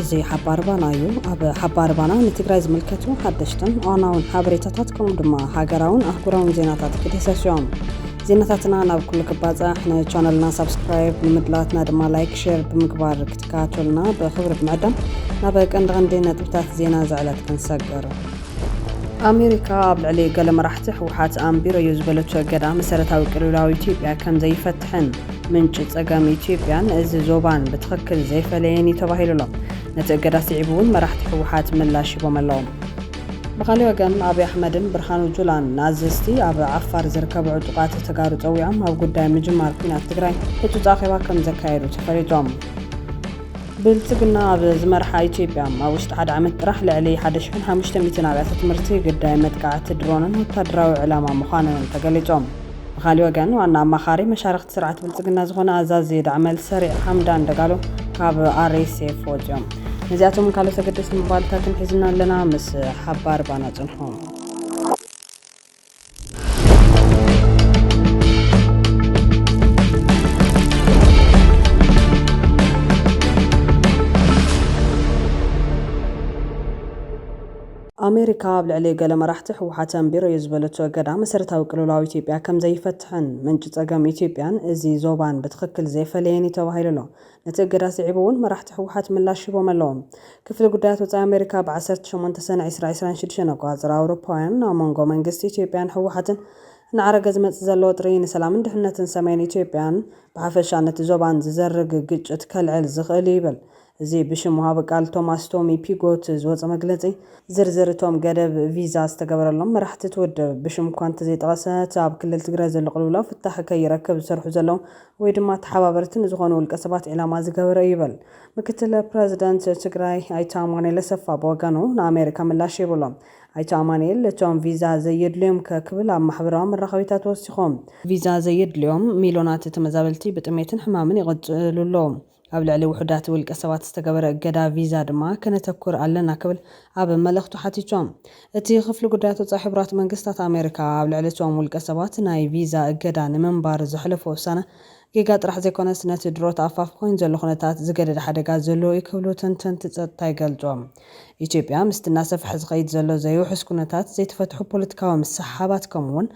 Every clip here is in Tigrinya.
እዚ ሓባር ባና እዩ ኣብ ሓባር ባና ንትግራይ ዝምልከቱ ሓደሽትን ዋናውን ሓበሬታታት ከምኡ ድማ ሃገራውን ኣህጉራውን ዜናታት ክድህሰሱ እዮም ዜናታትና ናብ ኩሉ ክባፃሕ ንቻነልና ሳብስክራይብ ንምድላትና ድማ ላይክ ሸር ብምግባር ክትከታተሉና ብክብሪ ብምዕዳም ናብ ቀንዲ ቀንዲ ነጥብታት ዜና ዘዕለት ክንሰግር ኣሜሪካ ኣብ ልዕሊ ገለ መራሕቲ ህወሓት ኣንቢረዮ ዝበለቶ እገዳ መሰረታዊ ቅልውላው ኢትዮጵያ ከም ዘይፈትሕን ምንጪ ጸገም ኢትዮጵያን እዚ ዞባን ብትኽክል ዘይፈለየን እዩ ተባሂሉ ኣሎ። ነቲ እገዳ ስዒቡ እውን መራሕቲ ህወሓት ምላሽ ሂቦም ኣለዉ። ብኻልእ ወገን ኣብይ ኣሕመድን ብርሃኑ ጁላን ንኣዘዝቲ ኣብ ዓፋር ዝርከቡ ዕጡቓት ተጋሩ ጸዊዖም ኣብ ጉዳይ ምጅማር ኲናት ትግራይ ህጹጽ ኣኼባ ከም ዘካየዱ ተፈሊጡ። ብልፅግና ኣብ ዝመርሓ ኢትዮጵያ ኣብ ውሽጢ ሓደ ዓመት ጥራሕ ልዕሊ 1500 ኣብያተ ትምህርቲ ግዳይ መጥቃዕቲ ድሮንን ወታደራዊ ዕላማ ምዃነንን ተገሊፆም። ብኻሊእ ወገን ዋና ኣማኻሪ መሻርኽቲ ስርዓት ብልፅግና ዝኾነ ኣዛዚ ዳዕመል ሰሪዕ ሓምዳን ደጋሎ ካብ RSF ወፂኦም። ነዚኣቶምን ካልኦት ኣገደስቲ መባልታትን ሒዝና ኣለና ምስ ሓባር ባና ፅንሑ። ኣሜሪካ ኣብ ልዕሊ ገለ መራሕቲ ህወሓት ኣንቢረዮ ዝበለቶ እገዳ መሰረታዊ ቅልውላው ኢትዮጵያ ከም ዘይፈትሕን ምንጪ ጸገም ኢትዮጵያን እዚ ዞባን ብትኽክል ዘይፈለየን እዩ ተባሂሉ ኣሎ። ነቲ እገዳ ስዒቡ እውን መራሕቲ ህወሓት ምላሽ ሂቦም ኣለዉ። ክፍሊ ጉዳያት ወጻኢ ኣሜሪካ ብ ዓሰርተ ሸሞንተ ሰነ ዕስራ ዕስራን ሽዱሽተን ኣቆጻጽራ ኣውሮፓውያን ኣብ መንጎ መንግስቲ ኢትዮጵያን ህወሓትን እናዓረገ ዝመጽእ ዘሎ ወጥሪ ንሰላምን ድሕንነትን ሰሜን ኢትዮጵያን ብሓፈሻ ነቲ ዞባን ዝዘርግ ግጭት ከልዕል ዝኽእል እዩ ይብል እዚ ብሽም ወሃቢ ቃል ቶማስ ቶሚ ፒጎት ዝወጸ መግለጺ። ዝርዝር እቶም ገደብ ቪዛ ዝተገበረሎም መራሕቲ እቲ ውድብ ብሽም እኳ እንተዘይጠቐሰ እቲ ኣብ ክልል ትግራይ ዘሎ ቅልውላው ፍታሕ ከይረክብ ዝሰርሑ ዘለዉ ወይ ድማ ተሓባበርቲ ንዝኾኑ ውልቀ ሰባት ዒላማ ዝገበረ እዩ ይብል። ምክትል ፕረዚደንት ትግራይ ኣይተ ኣማኑኤል ኣሰፋ ብወገኑ ንኣሜሪካ ምላሽ ሂቡ'ሎ። ኣይተ ኣማኑኤል እቶም ቪዛ ዘየድልዮም'ከ ክብል ኣብ ማሕበራዊ መራኸቢታት ወሲኹ። ቪዛ ዘየድልዮም ሚልዮናት ተመዛበልቲ ብጥሜትን ሕማምን ይቕጽሉ ኣለዉ። ኣብ ልዕሊ ውሑዳት ውልቀሰባት ዝተገበረ እገዳ ቪዛ ድማ ከነተኩር ኣለና ክብል ኣብ መልእኽቱ ሓቲቶም። እቲ ክፍሊ ጉዳያት ወጻኢ ሕቡራት መንግስታት ኣሜሪካ ኣብ ልዕሊ እቶም ውልቀሰባት ናይ ቪዛ እገዳ ንምንባር ዘሕለፎ ውሳነ ጌጋ ጥራሕ ዘይኮነስ ነቲ ድሮ ተኣፋፊ ኮይኑ ዘሎ ኩነታት ዝገደደ ሓደጋ ዘለዎ'ዩ ክብሉ ተንተንቲ ጸጥታ ይገልጹ። ኢትዮጵያ ምስቲ እናሰፍሐ ዝኸይድ ዘሎ ዘይውሑስ ኩነታት ዘይተፈትሑ ፖለቲካዊ ምስሕሓባት ከምኡ'ውን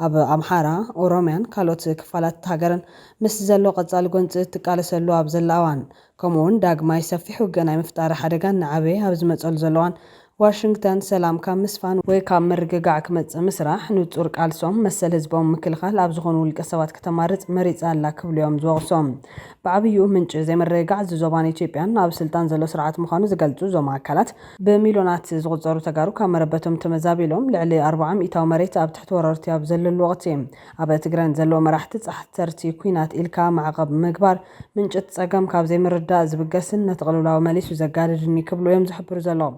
ኣብ ኣምሓራ፣ ኦሮምያን ካልኦት ክፋላት'ታ ሃገርን ምስ ዘሎ ቀጻሊ ጎንጺ እትቃለሰሉ ኣብ ዘላ እዋን፣ ከምኡ'ውን ዳግማይ ሰፊሕ ውግእ ናይ ምፍጣር ሓደጋ እናዓበየ ኣብ ዝመጸሉ ዘሎ እዋን፣ ዋሽንግተን ሰላም ካብ ምስፋን ወይ ካብ ምርግጋዕ ክመጽእ ምስራሕ ንጹር ቃልሶም መሰል ህዝቦም ምክልኻል ኣብ ዝኾኑ ውልቀሰባት ክተማርጽ መሪጻ ኣላ ክብሉ'ዮም ዝወቕሱ። ብዓብይኡ ምንጪ ዘይምርግጋዕ እዚ ዞባን ኢትዮጵያን ኣብ ስልጣን ዘሎ ስርዓት ምዃኑ ዝገልጹ እዞም ኣካላት፣ ብሚልዮናት ዝቑጸሩ ተጋሩ ካብ መረበቶም ተመዛቢሎም ልዕሊ ኣርብዓ ሚኢታዊ መሬት ኣብ ትሕቲ ወረርቲ ኣብ ዘለሉ ወቕቲ ኣብ ትግረን ዘለዉ መራሕቲ ጻሕተርቲ ኩናት ኢልካ ማዕቐብ ምግባር ምንጭቲ ጸገም ካብ ዘይምርዳእ ዝብገስን ነቲ ቅልውላው መሊሱ ዘጋድድን'ዩ ክብሉ እዮም ዝሕብሩ ዘለዉ።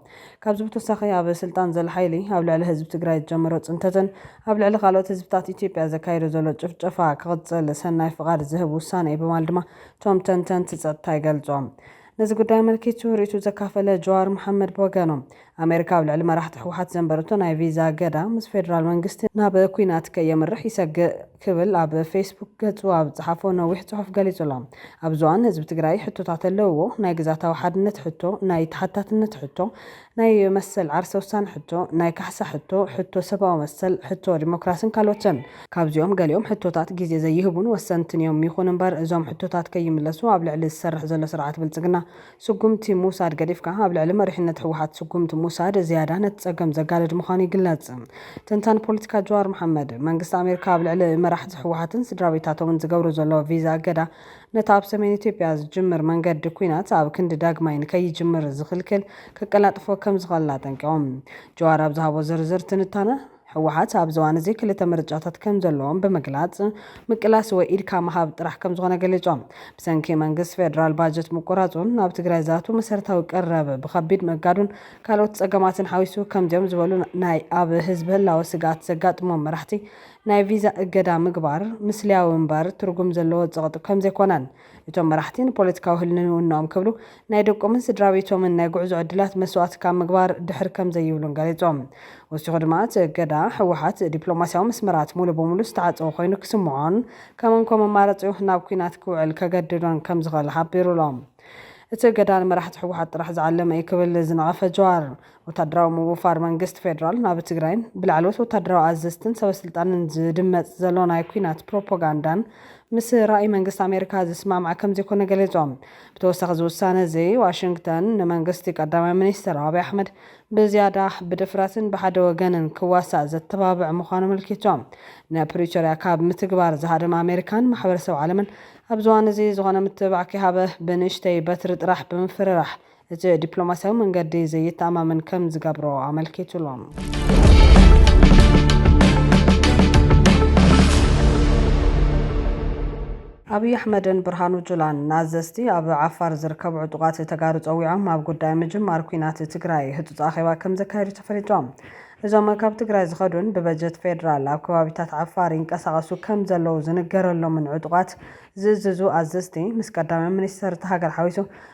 ካብዚ ብተወሳኺ ኣብ ስልጣን ዘሎ ሓይሊ ኣብ ልዕሊ ህዝቢ ትግራይ ዝጀመሮ ጽንተትን ኣብ ልዕሊ ካልኦት ህዝብታት ኢትዮጵያ ዘካይዶ ዘሎ ጭፍጨፋ ክቕጽል ሰናይ ፍቓድ ዝህብ ውሳነ'ዩ በማል ድማ እቶም ተንተንቲ ጸጥታ ይገልጹ። ነዚ ጉዳይ ኣመልኪቱ ርእይትኡ ዘካፈለ ጀዋር መሓመድ ብወገኑ፣ ኣሜሪካ ኣብ ልዕሊ መራሕቲ ህወሓት ዘንበረቶ ናይ ቪዛ እገዳ ምስ ፌደራል መንግስቲ ናብ ኲናት ከየምርሕ ይሰግእ ክብል ኣብ ፌስቡክ ገጹ ኣብ ዝጸሓፎ ነዊሕ ጽሑፍ ገሊጹ'ሎ። ኣብዚ እዋን ህዝቢ ትግራይ ሕቶታት ኣለውዎ፣ ናይ ግዝኣታዊ ሓድነት ሕቶ፣ ናይ ተሓታትነት ሕቶ፣ ናይ መሰል ዓርሰ ውሳነ ሕቶ፣ ናይ ካሕሳ ሕቶ፣ ሕቶ ሰብኣዊ መሰል፣ ሕቶ ዲሞክራስን ካልኦትን። ካብዚኦም ገሊኦም ሕቶታት ግዜ ዘይህቡን ወሰንትን እዮም። ይኹን እምበር እዞም ሕቶታት ከይምለሱ ኣብ ልዕሊ ዝሰርሕ ዘሎ ስርዓት ብልፅግና ስጉምቲ ምውሳድ ገዲፍካ ኣብ ልዕሊ መሪሕነት ህወሓት ስጉምቲ ምውሳድ ዝያዳ ነቲ ፀገም ዘጋድድ ምዃኑ ይግለፅ። ተንታኒ ፖለቲካ ጀዋር መሓመድ፣ መንግስቲ ኣሜሪካ ኣብ ልዕሊ መራሕቲ ህወሓትን ስድራቤታቶምን ዝገብሮ ዘሎ ቪዛ እገዳ፣ ነቲ ኣብ ሰሜን ኢትዮጵያ ዝጅምር መንገዲ ኲናት ኣብ ክንዲ ዳግማይ ንከይጅምር ዝኽልክል ከቀላጥፎ ከምዝኽእል ኣጠንቂቖም። ጀዋር ኣብ ዝሃቦ ዝርዝር ትንታነ፣ ህወሓት ኣብዚ እዋን እዚ ክልተ ምርጫታት ከምዘለዎም ብምግላፅ፣ ምቅላስ ወይ ኢድካ ምሃብ ጥራሕ ከምዝኾነ ገሊፆም። ብሰንኪ መንግስቲ ፌደራል ባጀት ምቁራፁን ናብ ትግራይ ዝኣትው መሰረታዊ ቀረብ ብኸቢድ ምእጋዱን ካልኦት ፀገማትን ሓዊሱ ከምዚኦም ዝበሉ ናይ ኣብ ህዝቢ ህላወ ስግኣት ዘጋጥሞም መራሕቲ ናይ ቪዛ እገዳ ምግባር ምስልያዊ እምበር ትርጉም ዘለዎ ጸቕጢ ከምዘይኮነን፣ እቶም መራሕቲ ንፖለቲካዊ ህልንውንኦም ክብሉ ናይ ደቆምን ስድራቤቶምን ናይ ጉዕዞ ዕድላት መስዋእቲ ካብ ምግባር ድሕር ከምዘይብሉን ገሊጾም። ወሲኹ ድማ እቲ እገዳ፣ ህወሓት ዲፕሎማስያዊ መስመራት ሙሉ ብሙሉ ዝተዓጸወ ኮይኑ ክስምዖን ከም እንኮ መማረጺኡ ናብ ኲናት ክውዕል ከገድዶን ከምዝኽእል ሓቢሩ'ሎ። እቲ እገዳ ንመራሕቲ ህወሓት ጥራሕ ዝዓለመ እዩ ክብል ዝነቐፈ ጀዋር፣ ወታደራዊ ምውፋር መንግስቲ ፌደራል ናብ ትግራይን ብላዕለዎት ወታደራዊ ኣዘዝትን ሰበስልጣንን ዝድመፅ ዘሎ ናይ ኲናት ፕሮፓጋንዳን ምስ ራእይ መንግስቲ ኣሜሪካ ዝስማማዕ ከምዘይኮነ ገሊፆም። ብተወሳኺ እዚ ውሳነ እዚ ዋሽንግተን ንመንግስቲ ቀዳማይ ሚኒስትር ኣብይ ኣሕመድ ብዝያዳ ብድፍረትን ብሓደ ወገንን ክዋሳእ ዘተባብዕ ምዃኑ ኣመልኪቶም። ንፕሪቶርያ ካብ ምትግባር ዝሃደማ ኣሜሪካን ማሕበረሰብ ዓለምን ኣብዚ እዋን እዚ ዝኾነ ምትብባዕ ከይሃበ ብንእሽተይ በትሪ ጥራሕ ብምፍርራሕ እቲ ዲፕሎማስያዊ መንገዲ ዘየተኣማምን ከም ዝገብሮ ኣመልኪቱሉ። ኣብይ ኣሕመድን ብርሃኑ ጁላን ንኣዘዝቲ ኣብ ዓፋር ዝርከቡ ዕጡቓት ተጋሩ ፀዊዖም ኣብ ጉዳይ ምጅማር ኲናት ትግራይ ህፁፅ ኣኼባ ከም ዘካየዱ ተፈሊጦም። እዞም ካብ ትግራይ ዝኸዱን ብበጀት ፌዴራል ኣብ ከባቢታት ዓፋር ይንቀሳቐሱ ከም ዘለዉ ዝንገረሎምን ዕጡቓት ዝእዝዙ ኣዘዝቲ ምስ ቀዳማይ ሚኒስትር እታ ሃገር ሓዊሱ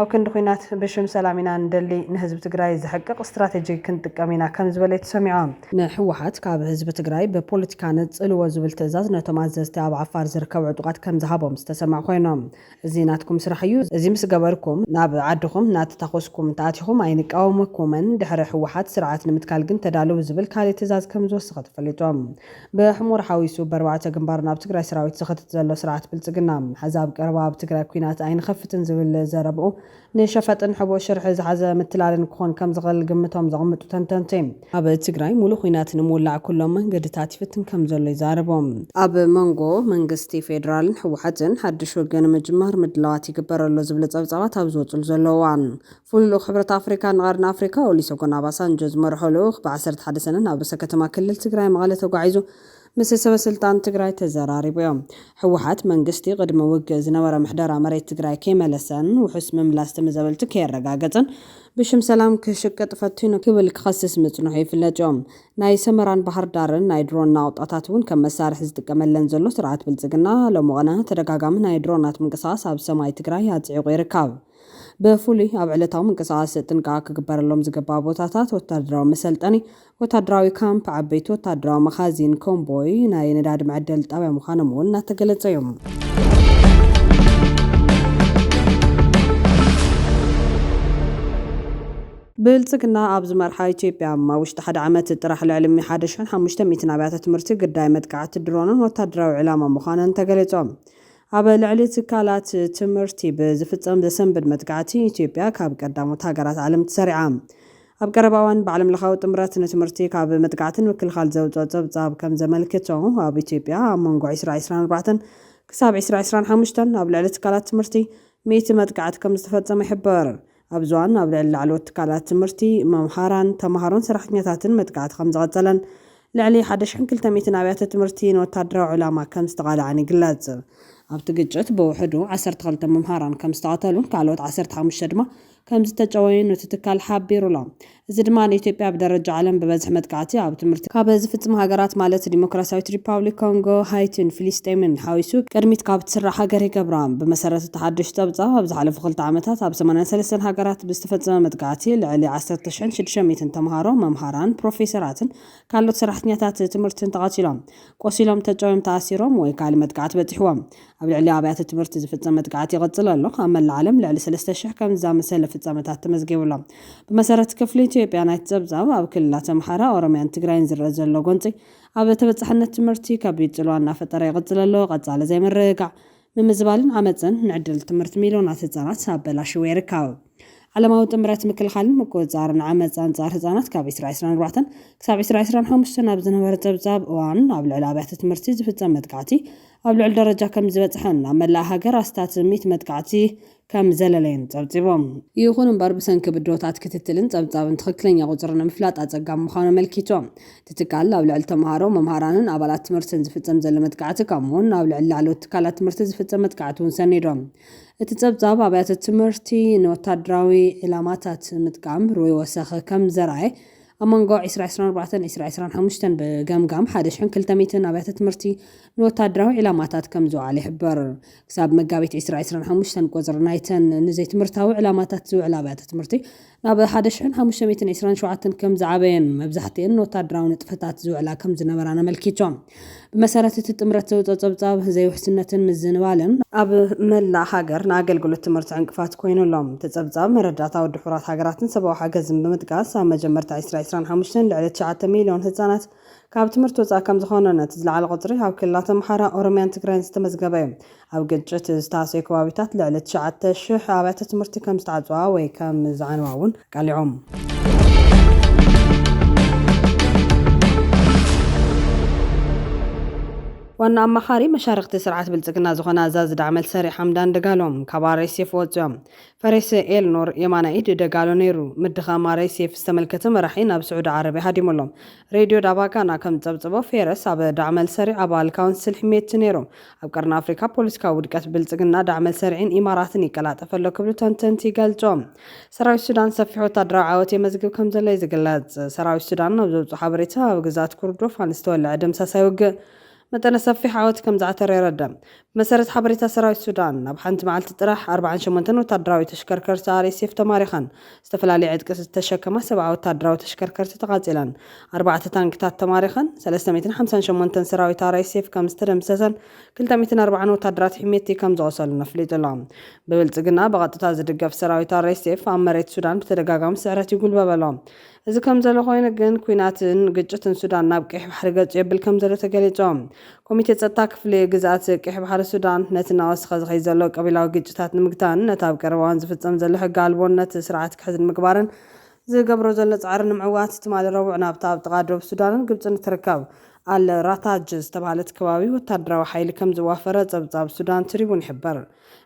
ኣብ ክንዲ ኹናት ብሽም ሰላም ኢና ንደሊ ንህዝቢ ትግራይ ዘሕቅቕ ስትራቴጂ ክንጥቀም ኢና ከምዝበለ እዩ ተሰሚዖ። ንህወሓት ካብ ህዝቢ ትግራይ ብፖለቲካ ነፅልዎ ዝብል ትእዛዝ ነቶም ኣዘዝቲ ኣብ ዓፋር ዝርከቡ ዕጡቓት ከምዝሃቦም ዝተሰምዐ ኾይኑ እዚ ናትኩም ስራሕ እዩ እዚ ምስ ገበርኩም ናብ ዓድኹም እናተታኾስኩም እንተኣቲኹም ኣይንቃወመኩምን ድሕሪ ህወሓት ስርዓት ንምትካል ግን ተዳለዉ ዝብል ካሊእ ትእዛዝ ከምዝወሰኸ ተፈሊጡ። ብሕሙር ሓዊሱ በርባዕተ ግንባር ናብ ትግራይ ሰራዊት ዝኸትት ዘሎ ስርዓት ብልፅግና፣ ሐዚ ኣብ ቀረባ ኣብ ትግራይ ኩናት ኣይንኸፍትን ዝብል ዘረብኡ ንሸፈጥን ሕቡእ ሽርሒ ዝሓዘ ምትላልን ክኾን ከምዝኽእል ግምቶም ዘቕምጡ ተንተንቲ፣ ኣብ ትግራይ ሙሉእ ኹናት ንምውላዕ ኩሎም መንገድታት ይፍትን ከምዘሎ ይዛረቡ። ኣብ መንጎ መንግስቲ ፌዴራልን ህወሓትን ሓዱሽ ውግእ ንምጅማር ምድላዋት ይግበር ኣሎ ዝብሉ ፀብፃባት ኣብ ዝወፅሉ ዘለዉ እዋን፣ ፍሉይ ልኡኽ ሕብረት ኣፍሪካ ንቐርኒ ኣፍሪካ ኦሊሰጎን ኣባሳንጆ ዝመርሖ ልኡኽ ብ ዓሰርተ ሓደ ሰነ ናብ ርእሰ ከተማ ክልል ትግራይ መቐለ ተጓዒዙ ምስ ሰበ ስልጣን ትግራይ ተዘራሪቡ ዮም። ህወሓት መንግስቲ ቕድሚ ውግእ ዝነበረ ምሕደራ መሬት ትግራይ ከይመለሰን ውሑስ ምምላስ ተመዘበልቲ ከየረጋገፀን ብሽም ሰላም ክሽቅጥ ፈቲኑ ክብል ክኸስስ ምፅንሑ ይፍለጥ ዮ። ናይ ሰመራን ባህርዳርን ናይ ድሮን ናቑጣታት ውን ከም መሳርሒ ዝጥቀመለን ዘሎ ስርዓት ብልፅግና ሎሚ ቕነ ተደጋጋሚ ናይ ድሮናት ምንቅስቓስ ኣብ ሰማይ ትግራይ ኣፅዒቑ ይርካብ። ብፍሉይ ኣብ ዕለታዊ ምንቅስቓስ ጥንቃቐ ክግበረሎም ዝግባእ ቦታታት፣ ወታደራዊ መሰልጠኒ፣ ወታደራዊ ካምፕ፣ ዓበይቲ ወታደራዊ መኻዚን፣ ኮምቦይ፣ ናይ ነዳዲ መዐደሊ ጣብያ ምዃኖም እውን እናተገለፀ እዩ። ብልፅግና ኣብ ዝመርሓ ኢትዮጵያ ኣብ ውሽጢ ሓደ ዓመት ጥራሕ ልዕሊ ሚ ሓደ ሽሕን ሓሙሽተ ሚእትን ኣብያተ ትምህርቲ ግዳይ መጥቃዕቲ ድሮንን ወታደራዊ ዕላማ ምዃነን ተገሊፆም። ኣብ ልዕሊ ትካላት ትምህርቲ ብዝፍጸም ዘሰንብድ መጥቃዕቲ፣ ኢትዮጵያ ካብ ቀዳሞት ሃገራት ዓለም ተሰሪዓ። ኣብ ቀረባ እዋን ብዓለምለኻዊ ጥምረት ንትምህርቲ ካብ መጥቃዕቲ ንምክልኻል ዘውጽኦ ጸብጻብ ከም ዘመልክቶ፣ ኣብ ኢትዮጵያ ኣብ መንጎ ዕስራ ዕስራን ኣርባዕተን ክሳብ ዕስራ ዕስራን ሓሙሽተን ኣብ ልዕሊ ትካላት ትምህርቲ ሚእቲ መጥቃዕቲ ከም ዝተፈጸመ ይሕብር። ኣብዚ እዋን ኣብ ልዕሊ ላዕለዎት ትካላት ትምህርቲ፣ መምሃራን፣ ተማሃሮን ሰራሕተኛታትን መጥቃዕቲ ከምዝቐፀለን ልዕሊ ሓደ ሽሕን ክልተ ሚእትን ኣብያተ ትምህርቲ ንወታደራዊ ዕላማ ከምዝተቓልዓን ይግለፅ። ኣብቲ ግጭት ብውሕዱ ዓሰርተ ክልተ መምሃራን ከምዝተቐተሉን ካልኦት ዓሰርተ ሓሙሽተ ድማ ከምዝተጨወዩን እቲ ትካል ሓቢሩ'ሎ። እዚ ድማ ንኢትዮጵያ ብደረጃ ዓለም ብበዝሒ መጥቃዕቲ ኣብ ትምህርቲ ካብ ዝፍጽማ ሃገራት ማለት ዲሞክራስያዊት ሪፓብሊክ ኮንጎ፣ ሃይቲን ፍሊስጤምን ሓዊሱ ቅድሚት ካብ ትስራዕ ሃገር ይገብራ። ብመሰረት እቲ ሓድሽ ጸብጻብ ኣብ ዝሓለፉ ክልተ ዓመታት ኣብ ሰማንያን ሰለስተን ሃገራት ብዝተፈጸመ መጥቃዕቲ ልዕሊ ዓሰርተ ሽሕን ሽዱሽተ ሚእትን ተመሃሮ፣ መምሃራን፣ ፕሮፌሰራትን ካልኦት ሰራሕተኛታት ትምህርትን ተቐቲሎም፣ ቆሲሎም፣ ተጨውዮም፣ ተኣሲሮም ወይ ካልእ መጥቃዕቲ በጺሕዎም ኣብ ልዕሊ ኣብያተ ትምህርቲ ዝፍጸም መጥቃዕቲ ይቕጽል ኣሎ። ኣብ መላእ ዓለም ልዕሊ ሰለስተ ሽሕ ከምዚ ዝኣመሰለ ፍጻመታት ተመዝጊቡ ኣሎ። ብመሰረት ክፍሊ ኢትዮጵያ ናይቲ ጸብጻብ፣ ኣብ ክልላት ኣምሓራ፣ ኦሮምያን ትግራይን ዝርኣ ዘሎ ጎንጺ፣ ኣብ ተበጻሕነት ትምህርቲ ከቢድ ጽልዋ እናፈጠረ ይቕጽል ኣሎ፣ ቀጻሊ ዘይምርግጋዕ፣ ምምዝባልን ዓመጽን፣ ንዕድል ትምህርቲ ሚልዮናት ህጻናት ኣበላሺዎ ይርከብ። ዓለማዊ ጥምረት ምክልኻልን ምቁፅፃርን ዓመፅ ኣንፃር ህፃናት ካብ 2024 ክሳብ 2025 ኣብ ዝነበረ ፀብፃብ እዋን ኣብ ልዕሊ ኣብያተ ትምህርቲ ዝፍፀም መጥቃዕቲ ኣብ ልዕሊ ደረጃ ከም ዝበፅሐን ኣብ መላእ ሃገር ኣስታት 100 መጥቃዕቲ ከም ዘለለዩን ፀብፂቦም። ይኹን እምበር ብሰንኪ ብድሆታት ክትትልን ፀብፃብን ትኽክለኛ ቁፅሪ ንምፍላጥ ኣፀጋሚ ምዃኑ ኣመልኪቶም። እቲ ትካል ኣብ ልዕሊ ተምሃሮ፣ መምሃራንን ኣባላት ትምህርትን ዝፍፀም ዘሎ መጥቃዕቲ ከምኡ እውን ኣብ ልዕሊ ላዕለዎት ትካላት ትምህርቲ ዝፍፀም መጥቃዕቲ እውን ሰኒዶም። እቲ ጸብጻብ፣ ኣብያተ ትምህርቲ ንወታደራዊ ዒላማታት ምጥቃም ርኡይ ወሰኽ ከም ዘርኣየ፣ ኣብ መንጎ ዕስራ ዕስራን ኣርባዕተን ዕስራ ዕስራን ሓሙሽተን ብገምጋም ሓደ ሽሕን ክልተ ሚእትን ኣብያተ ትምህርቲ ንወታደራዊ ዒላማታት ከም ዝውዓለ ይሕብር። ክሳብ መጋቢት ዕስራ ዕስራን ሓሙሽተን ቁጽሪ ናይተን ንዘይትምህርታዊ ዕላማታት ዝውዕላ ኣብያተ ትምህርቲ ናብ ሓደ ሽሕን ሓሙሽተ ሚእትን ዒስራን ሸውዓተን ከም ዝዓበየን መብዛሕትኤን ንወታደራዊ ንጥፈታት ዝውዕላ ከም ዝነበራን ኣመልኪቶም። ብመሰረት እቲ ጥምረት ዘውጽኦ ጸብጻብ፣ ዘይውሕስነትን ምዝንባልን፣ ኣብ መላእ ሃገር ንኣገልግሎት ትምህርቲ ዕንቅፋት ኮይኑ ኣሎ። እቲ ጸብጻብ፣ መረዳእታ ወዲ ሕቡራት ሃገራትን ሰብኣዊ ሓገዝን ብምጥቃስ፣ ኣብ መጀመርታ ዕስራ ዒስራን ሓሙሽተን ልዕሊ ትሽዓተ ሚልዮን ህጻናት፣ ካብ ትምህርቲ ወፃእ ከምዝኾኑን እቲ ዝለዓለ ቁፅሪ ኣብ ክልላት ኣምሓራ፣ ኦሮሚያን ትግራይን ዝተመዝገበ እዩ። ኣብ ግጭት ዝተሃሰዩ ከባቢታት ልዕሊ ትሽዓተ ሽሕ ኣብያተ ትምህርቲ ከምዝተዓፅዋ ወይ ከምዝዓንዋ እውን ኣቃሊዖም። ዋና ኣማኻሪ መሻርኽቲ ስርዓት ብልፅግና ዝኾነ ኣዛዚ ዳዕመል ሰሪዕ ሓምዳን ደጋሎ ካብ RSF ወፂኦም። ፈሬሰ ኤል ኖር የማናይ ኢድ ደጋሎ ነይሩ። ምድኻም RSF ዝተመልከተ መራሒ ናብ ስዑዲ ዓረብያ ሃዲሙ ኣሎ። ሬድዮ ዳባ ጋና ከም ዝጸብጸቦ፣ ፌረስ ኣብ ዳዕመልሰሪዕ ኣባል ካውንስል ሕሜቲ ነይሩ። ኣብ ቀርኒ ኣፍሪካ ፖለቲካዊ ውድቀት ብልጽግና፣ ዳዕመልሰሪዕን ኢማራትን ይቀላጠፍ ኣሎ ክብሉ ተንተንቲ ይገልጹ። ሰራዊት ሱዳን ሰፊሕ ወታደራዊ ዓወት የመዝግብ ከም ዘሎ'ዩ ዝግለጽ። ሰራዊት ሱዳን ኣብ ዘውጽኦ ሓበሬታ፣ ኣብ ግዝኣት ኩርዶፋን ዝተወለዐ ደምሳሳይ ውግእ፣ መጠነ ሰፊሕ ዓወት ከምዝዓተረ የረድእ። ብመሰረት ሓበሬታ ሰራዊት ሱዳን፣ ኣብ ሓንቲ መዓልቲ ጥራሕ ኣርብዓን ሸሞንተን ወታደራዊ ተሽከርከርቲ RSF ተማሪኸን፣ ዝተፈላለየ ዕጥቂ ዝተሸከማ ሰብዓ ወታደራዊ ተሽከርከርቲ ተቓፂለን፣ ኣርባዕተ ታንክታት ተማሪኸን፣ ሰለስተ ሚእትን ሓምሳን ሸሞንተን ሰራዊት RSF ከምዝተደምሰሰን ክልተ ሚእትን ኣርብዓን ወታደራት ሒሜቲ ከምዝቖሰሉን ኣፍሊጡ ኣሎ። ብብልፅግና ብቐጥታ ዝድገፍ ሰራዊት RSF ኣብ መሬት ሱዳን ብተደጋጋሚ ስዕረት ይጉልበብ ኣሎ። እዚ ከምዘሎ ኮይኑ ግን ኲናትን ግጭትን ሱዳን ናብ ቀይሕ ባሕሪ ገጹ የብል ከምዘሎ ተገሊጹ። ኮሚቴ ጸጥታ ክፍሊ ግዝኣት ቀይሕ ባሕሪ ሱዳን ነቲ እናወሰኸ ዝኸይድ ዘሎ ቀቢላዊ ግጭታት ንምግታእን ነቲ ኣብ ቀረባ'ዋን ዝፍጸም ዘሎ ሕጊ ኣልቦነት ስርዓት ክሕዝ ንምግባርን ዝገብሮ ዘሎ ጻዕሪ ንምዕዋት ትማሊ ረቡዕ ናብታ ኣብ ጥቓ ዶብ ሱዳንን ግብጽን እትርከብ ኣል ራታጅ ዝተባህለት ከባቢ ወተሃደራዊ ሓይሊ ከምዝዋፈረ ጸብጻብ ሱዳን ትሪቡን ይሕብር።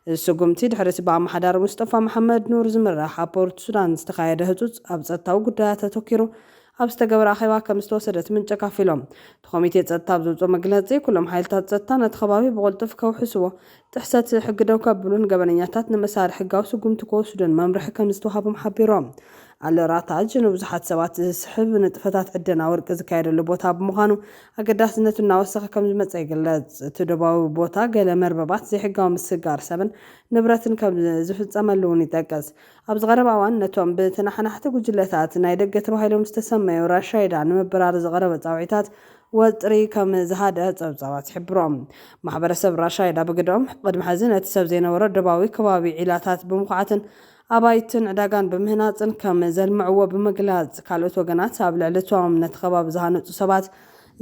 እዚ ስጉምቲ ድሕሪ'ቲ ብኣመሓዳሪ ሙስጠፋ መሓመድ ኑር ዝምራሕ ኣብ ፖርት ሱዳን ዝተኻየደ ህጹጽ ኣብ ጸጥታዊ ጉዳያት ኣተኲሩ ኣብ ዝተገበረ ኣኼባ ከም ዝተወሰደ'ቲ ምንጪ ኣካፊሎም። እቲ ኮሚቴ ጸጥታ ኣብ ዘውጽኦ መግለጺ፣ ኩሎም ሓይልታት ጸጥታ ነቲ ከባቢ ብቕልጡፍ ከውሕስዎ፣ ጥሕሰት ሕጊ ደው ከብሉን ገበነኛታት ንምእሳር ሕጋዊ ስጉምቲ ክወስዱን መምርሒ ከም ዝተዋህቦም ሓቢሮም። ኣል-ራታጅ ንብዙሓት ሰባት ዝስሕብ ንጥፈታት ዕደና ወርቂ ዝካየደሉ ቦታ ብምዃኑ ኣገዳስነቱ እናወሰኸ ከም ዝመጸ ይግለጽ። እቲ ዶባዊ ቦታ ገለ መርበባት ዘይሕጋዊ ምስግጋር ሰብን ንብረትን ከም ዝፍጸመሉ'ውን ይጠቅስ። ኣብዚ ቀረባ እዋን ነቶም ብተነሓናሕቲ ጉጅለታት ናይ ደገ ተባሂሎም ዝተሰመዩ ራሻይዳ ንምብራር ዝቐረበ ጻውዒታት ወጥሪ ከም ዝሃድኣ ጸብጻባት ይሕብሩ። ማሕበረሰብ ራሻይዳ ብግደኦም፣ ቅድሚ ሕዚ ነቲ ሰብ ዘይነበሮ ዶባዊ ከባቢ ዒላታት ብምኹዓትን ኣባይትን ዕዳጋን ብምህናፅን ከም ዘልምዕዎ ብምግላፅ፣ ካልኦት ወገናት ኣብ ልዕሊ እቶም ነቲ ከባቢ ዝሃነፁ ሰባት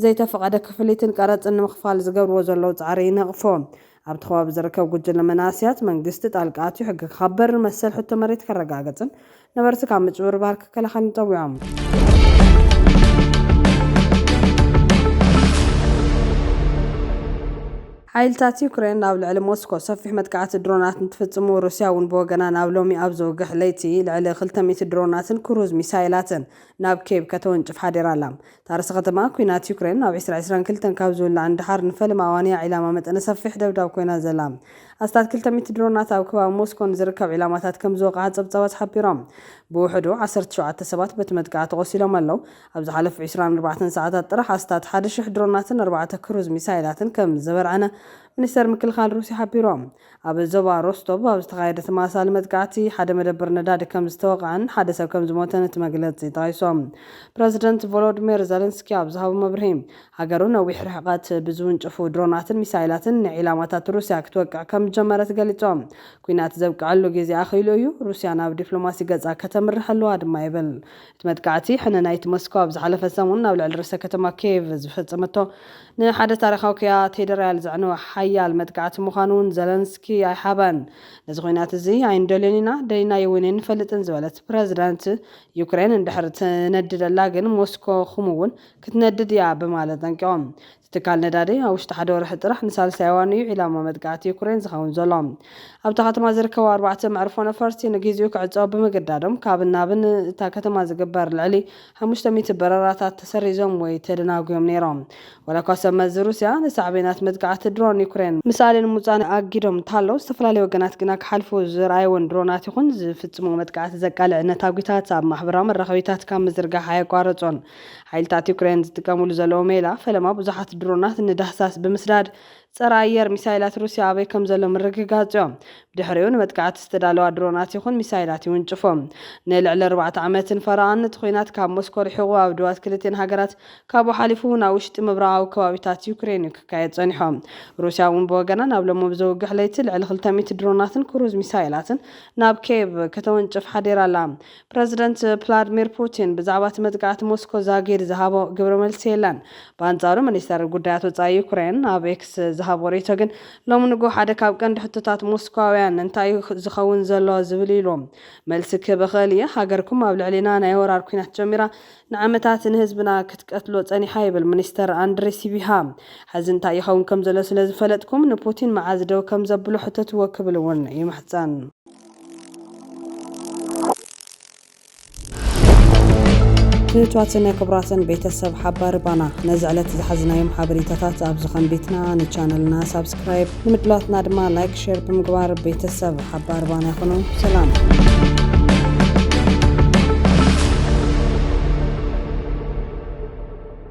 ዘይተፈቐደ ክፍሊትን ቀረፅን ንምኽፋል ዝገብርዎ ዘለዉ ፃዕሪ ይነቕፎ። ኣብቲ ከባቢ ዝርከብ ጉጅለ መናእሰያት፣ መንግስቲ ጣልቃ ኣትዩ ሕጊ ክኸበር፣ መሰል ሕቶ መሬት ከረጋግፅን ነበርቲ ካብ ምጭብርባር ክከላኸልን ፀዊዖም። ሓይልታት ዩክሬን ኣብ ልዕሊ ሞስኮ ሰፊሕ መጥቃዕቲ ድሮናት እንትፍጽሙ፣ ሩስያ እውን ብወገና ናብ ሎሚ ኣብ ዝውግሕ ለይቲ ልዕሊ ክልተ ሚእቲ ድሮናትን ክሩዝ ሚሳይላትን ናብ ኬቭ ከተወንጭፍ ሓዲራ ኣላ። እታ ርእሰ ከተማ፣ ኲናት ዩክሬን ኣብ ዕስራ ዕስራን ክልተን ካብ ዝውላዕ ንደሓር ንፈለማ እዋን እያ ዒላማ መጠነ ሰፊሕ ደብዳብ ኮይና ዘላ። ኣስታት ክልተ ሚእቲ ድሮናት ኣብ ከባቢ ሞስኮ ንዝርከብ ዒላማታት ከም ዝወቕዓ ጸብጻባት ሓቢሮም። ብውሕዱ ዓሰርተ ሸውዓተ ሰባት በቲ መጥቃዕቲ ቆሲሎም ኣለዉ። ኣብ ዝሓለፉ ዕስራን ኣርባዕተን ሰዓታት ጥራሕ ኣስታት ሓደ ሽሕ ድሮናትን ኣርባዕተ ክሩዝ ሚሳይላትን ከም ዘበርዐነ ሚኒስተር ምክልኻል ሩስያ ሓቢሩ። ኣብ ዞባ ሮስቶቭ ኣብ ዝተኻየደ ተመሳሳሊ መጥቃዕቲ፣ ሓደ መደብር ነዳዲ ከም ዝተወቕዐን ሓደ ሰብ ከም ዝሞተን እቲ መግለጺ ጠቒሱ። ፕረዚደንት ቮሎድሚር ዘለንስኪ ኣብ ዝሃቦ መብርሂ፣ ሃገሩ ነዊሕ ርሕቀት ብዝውንጨፉ ድሮናትን ሚሳይላትን ንዒላማታት ሩስያ ክትወቅዕ ከም ዝጀመረት ገሊጹ። ኲናት ዘብቅዐሉ ግዜ ኣኺሉ እዩ፣ ሩስያ ናብ ዲፕሎማሲ ገጻ ከተምርሕ ኣለዋ ድማ ይብል እቲ መጥቃዕቲ ሕነ ናይቲ ሞስኮ ኣብ ዝሓለፈ ሰሙን ኣብ ልዕሊ ርእሰ ከተማ ኪየቭ ዝፈጸመቶ ንሓደ ታሪኻዊ ክያቴድርያል ዘዕነወ ሓያል መጥቃዕቲ ምዃኑ'ውን ዘለንስኪ ኣይሓበን። ነዚ ኲናት እዚ ኣይንደልዮን ኢና፣ ደሊናዮ'ውን ኣይንፈልጥን ዝበለት ፕረዚደንት ዩክሬን፣ እንድሕር ትነድደላ ግን ሞስኮ ኹም'ውን ክትነድድ እያ ብማለት ኣጠንቂቖም። እቲ ትካል ነዳዲ፣ ኣብ ውሽጢ ሓደ ወርሒ ጥራሕ ንሳልሳይ እዋን እዩ ዒላማ መጥቃዕቲ ዩክሬን ዝኸውን ዘሎ። ኣብታ ከተማ ዝርከቡ ኣርባዕተ መዕርፎ ነፈርቲ ንግዚኡ ክዕጸዉ ብምግዳዶም፣ ካብን ናብን እታ ከተማ ዝግበር ልዕሊ ሓሙሽተ ሚእቲ በረራታት ተሰሪዞም ወይ ተደናጉዮም ነይሮም። ዋላኳ ሰብ መዚ ሩስያ ንሳዕቤናት መጥቃዕቲ ድሮን ዩክሬን ምሳሌ ንምውጻእ ኣጊዶም እንተሃለዉ፣ ዝተፈላለዩ ወገናት ግና ክሓልፉ ዝርኣይወን ድሮናት ይኹን ዝፍጽምዎ መጥቃዕቲ ዘቃልዕ ነታጒታት ኣብ ማሕበራዊ መራኸቢታት ካብ ምዝርጋሕ ኣየቋረጹን። ሓይልታት ዩክሬን ዝጥቀምሉ ዘለዉ ሜላ ፈለማ ብዙሓት ድሮናት ንዳህሳስ ብምስዳድ ጸረ ኣየር ሚሳይላት ሩስያ ኣበይ ከም ዘሎ ምርግጋጽዮ። ብድሕሪኡ ንመጥቃዕቲ ዝተዳለዋ ድሮናት ይኹን ሚሳይላት ይውንጭፉ። ንልዕሊ ኣርባዕተ ዓመትን ፈረቓን እቲ ኲናት ካብ ሞስኮ ርሒቑ ኣብ ዶባት ክልቲኤን ሃገራት ካብኡ ሓሊፉ'ውን ኣብ ውሽጢ ምብራቓዊ ከባቢታት ዩክሬንዩ ክካየድ ጸኒሖ። ሩስያ'ውን ብወገና ናብ ሎሚ ብዘውግሕ ለይቲ ልዕሊ ክልተ ሚእቲ ድሮናትን ክሩዝ ሚሳይላትን ናብ ኬቭ ከተወንጭፍ ሓዲራ'ላ። ፕረዚደንት ፕላድሚር ፑቲን ብዛዕባ እቲ መጥቃዕቲ ሞስኮ ዛጊድ ዝሃቦ ግብረ መልሲ የለን። ብኣንጻሩ ሚኒስተር ጉዳያት ወጻኢ ዩክሬን ኣብ ኤክስ ዝሃቦ ርእይቶ ግን ሎሚ ንግሆ ሓደ ካብ ቀንዲ ሕቶታት ሞስኮውያን እንታይ እዩ ዝኸውን ዘሎ ዝብል እዩ ኢሉ መልሲ ክህብ እኽእል እየ ሃገርኩም ኣብ ልዕሊና ናይ ወራር ኲናት ጀሚራ ንዓመታት ንህዝብና ክትቀትሎ ጸኒሓ ይብል ሚኒስተር ኣንድሪ ሲቢሃ ሕዚ እንታይ ይኸውን ከም ዘሎ ስለ ዝፈለጥኩም ንፑቲን መዓዝ ደው ከም ዘብሎ ሕተትዎ ክብል እውን ይምሕጸን። ክብርታትን ክብራትን ቤተሰብ ሓባሪ ባና ነዚ ዕለት ዝሓዝናዮም ሓበሬታታት ኣብዚ ከንቢትና ንቻነልና ሳብስክራይብ ንምድላትና ድማ ላይክ ሸር ብምግባር ቤተሰብ ሓባሪ ባና ይኹኑ ሰላም